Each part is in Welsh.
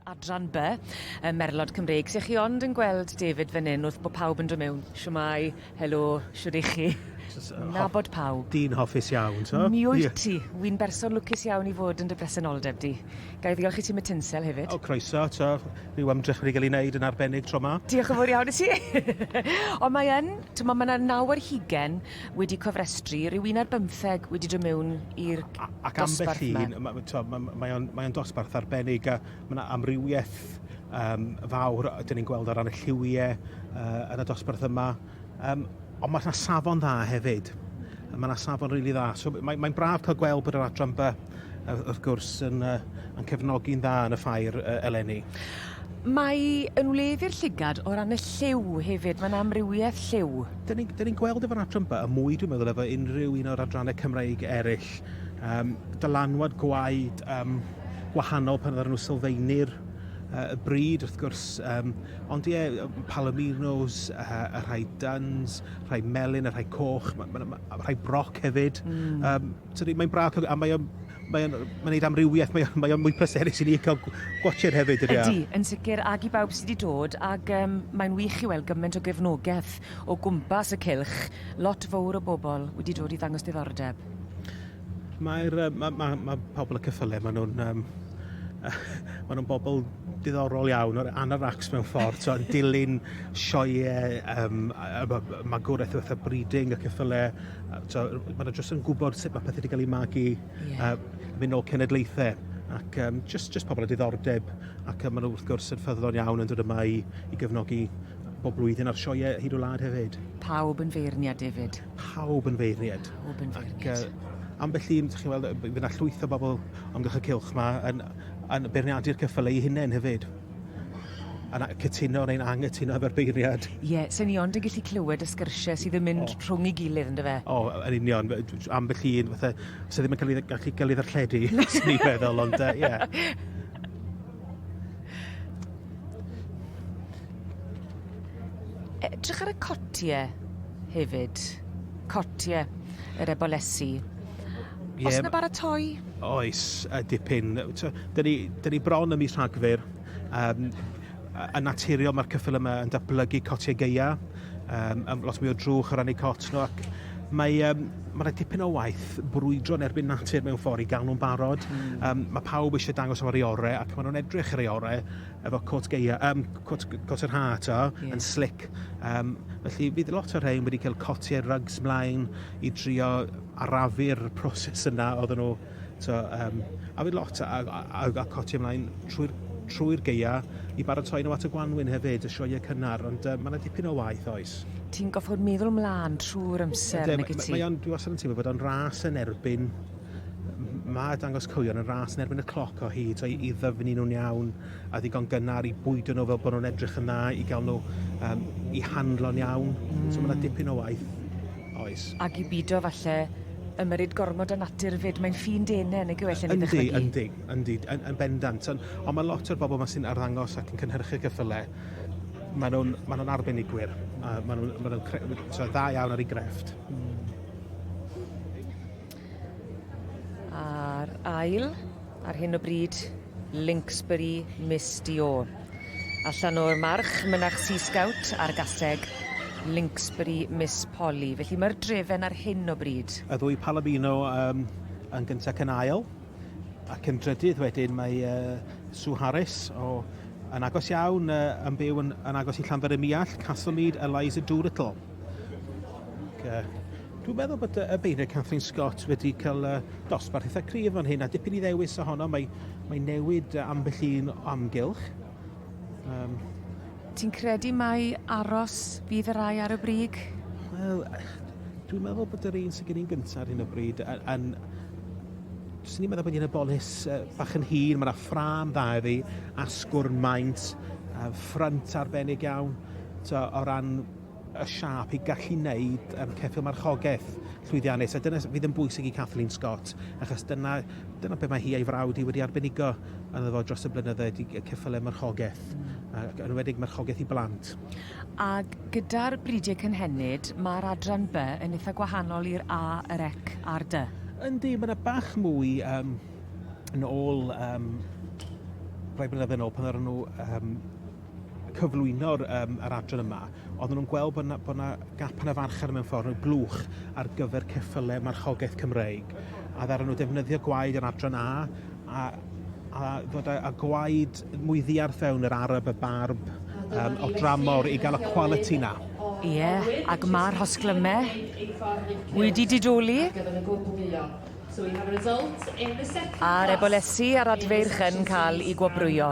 adran B, y merlod Cymreig. Sech chi ond yn gweld David fan hyn wrth bod pawb yn dod mewn? Siwmai, helo, siwr i chi. Nabod pawb. Dyn hoffus iawn, so? Mi wyt ti. Wy'n berson lwcus iawn i fod yn dy bresenoldeb di. Gai ddiolch i ti Matinsel hefyd. O, croeso, to. Rhyw ymdrech wedi cael ei wneud yn arbennig tro ma. Diolch yn fawr iawn i ti. Ond mae yn, ti'n mae yna naw ar hugen wedi cofrestru, rhyw un ar bymtheg wedi dod mewn i'r dosbarth yma. Ac ambell un, mae, mae o'n, mae on dosbarth arbennig a mae yna amrywiaeth um, fawr, dyn ni'n gweld o ran y lliwiau uh, yn y dosbarth yma, um, ond mae yna safon dda hefyd. Mae yna safon rili really dda. So, mae'n mae braf cael gweld bod yr adran by wrth gwrs yn, uh, yn cefnogi'n dda yn y ffair uh, eleni. Mae yn wledd i'r llygad o ran y lliw hefyd, mae'n amrywiaeth lliw. Dyn ni'n ni gweld efo'r adran ba, y mwy dwi'n meddwl efo unrhyw un o'r adrannau Cymraeg eraill, um, dylanwad gwaed um, wahanol pan oedden nhw sylfaenu'r uh, y bryd, wrth gwrs. Um, ond ie, Palominos, uh, y rhai duns, rhai melyn, y rhai coch, ma, ma, ma, rhai broc hefyd. Mm. Um, Sori, mae'n braf cael... A mae o'n... Mae o'n... Mae'n neud amrywiaeth. Mae o'n... Mae o'n mwy pleserus i ni cael gwatshad hefyd, yn iar. Ydy, yn sicr, ag i bawb sy 'di dod, ag yym mae'n wych i weld gyment o gefnogeth o gwmpas y cylch, lot fowr o bobl wedi dod i ddangos diddordeb. Mae'r yy ma' ma' ma' pobl y cyffyle, ma' nhw'n yym ma' nhw'n bobl diddorol iawn, o'r anoracs mewn ffordd, t'o' yn dilyn sioeau yym yy yy magwraeth fatha Breeding y cyffyle So, maen nhw jyst yn gwybod sut mae pethau wedi cael eu magu, yeah. a mynd nôl cenedlaethau ac um, just, just pobl y diddordeb ac um, maen nhw wrth gwrs yn ffyddlon iawn yn dod yma i, i gefnogi bob blwyddyn ar sioiau hyd o lad hefyd. Pawb yn feirniad, David. Pawb yn feirniad. Pawb yn feirniad. Ac, uh, ambell un, chi'n weld, fydd yna llwyth o bobl amgylch y cylch yma yn, yn beirniadu'r cyffylau eu hunain hefyd. Yn cytuno neu'n anghytuno efo'r beirniad. Ie, so ni ond yn gallu clywed y sgyrsiau sydd yn mynd rhwng ei gilydd, yn dyfe? O, yn union. Ambell un, fatha, sydd ddim yn cael ei gallu gael ei ddarlledu, swn i'n meddwl, ond uh, ie. Edrych ar y cotiau hefyd. Cotiau yr ebolesi. Yep. Os na baratoi Oes, yy dipyn. T'o', 'dan ni 'dan ni bron ym mis Rhagfyr. Yym yy yn naturiol ma'r cyffil yma yn datblygu cotiau gaea, yym yym lot mwy o drwch o ran eu cot nhw ac mae yym ma' 'na dipyn o waith brwydro yn erbyn natur mewn ffor i ga'l nhw'n barod. Hmm. Yym ma' pawb eisiau dangos am yr eu ore' ac ma' nhw'n edrych ar eu ore' efo cot gaea yym cot g- cot yr Ha' t'o'? Ie. Yn slic. Yym felly bydd lot o rhein wedi cael cotiau rygs mlaen i drio arafu'r proses yna oedden nhw so, um, a fi lot a, a, a, a coti ymlaen trwy'r trwy geia i baratoi nhw at y gwanwyn hefyd, y sioe cynnar, ond uh, mae yna dipyn o waith oes. Ti'n goffod meddwl mlaen trwy'r amser, nag ti? Mae o'n, dwi wastad yn teimlo bod o'n ras yn erbyn mae dangos cywion yn ras yn erbyn y cloc o hyd, so i, i ddyfnu nhw'n iawn a ddigon gynnar i bwydo nhw fel bod nhw'n edrych yn dda, i gael nhw um, i handlo'n iawn. Mm. So mae yna dipyn o waith Oes. Ag i bido falle ymyrryd gormod â natur 'fyd, mae'n ffin dene nag yw e lle ni'n dychmygu? Yndi, yndi, yndi, yn yn bendant, on' on' ma' lot o'r bobol 'ma sy'n arddangos ac yn cynhyrchu ceffyle, ma' nw'n ma' nw'n arbenigwyr, a ma' nw'n ma' nw'n cre- t'wo' dda iawn ar 'u grefft. Hmm. A'r ail, ar hyn o bryd, Linksbury Miss Dior. Allan o'r march, mynach Sea Scout a'r gaseg Linksbury Miss Polly. Felly mae'r drefen ar hyn o bryd. Y ddwy Palomino um, yn gyntaf ac yn ail. Ac yn drydydd wedyn mae uh, Sue Harris o yn agos iawn uh, yn byw yn, yn agos i Llanfair y Miall, Castlemead, Eliza Doolittle. Okay. Dwi'n meddwl bod y beirniad Kathleen Scott wedi cael uh, dosbarth eitha cryf fan hyn, a dipyn i ddewis ohono, mae, mae newid ambell un amgylch. Um, Ti'n credu mai aros fydd y rai ar y brig? Wel, dwi'n meddwl bod yr un sy'n gen i'n gyntaf ar hyn o bryd, yn, yn Swn i'n meddwl bod hi'n y bolus uh, bach yn hir, mae yna ffram dda iddi, asgwrn maint, uh, ffrant arbennig iawn, to, o ran y siâp i gallu wneud um, ceffyl marchogaeth llwyddiannus, a dyna fydd yn bwysig i Kathleen Scott, achos dyna, dyna beth mae hi a'i frawd hi wedi arbenigo yn efo dros y blynyddoedd i ceffylau marchogaeth, ac yn wedig marchogaeth i blant. Ac gyda'r bridiau cynhenid, mae'r adran B yn eitha gwahanol i'r A, yr Ec a'r Dy. Yndi, mae yna bach mwy um, yn ôl um, rhai blynyddoedd yn ôl pan oedden nhw um, cyflwyno'r um, yr adran yma, oedden nhw'n gweld bod yna, bod yna gap yn y farchnad mewn ffordd mewn blwch ar gyfer ceffylau marchogaeth Cymreig. A ddaran nhw defnyddio gwaed yr adran A a, a ddod â, gwaed mwy ddiarth fewn yr arab, y barb, um, o dramor i gael y quality na. Ie, yeah, ac mae'r hosglymau wedi didoli. A'r ebolesi a'r adfeirch yn cael ei gwobrwyo.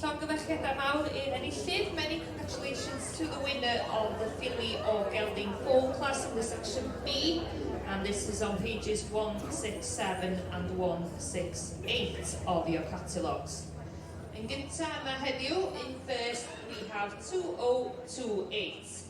Llongyfarchiadau mawr i'r enillydd, many congratulations to the winner of the Filly o Gelding Foal Class in the Section B and this is on pages 167 and 168 of your catalogues. Yn gyntaf yma heddiw, in first we have 2028.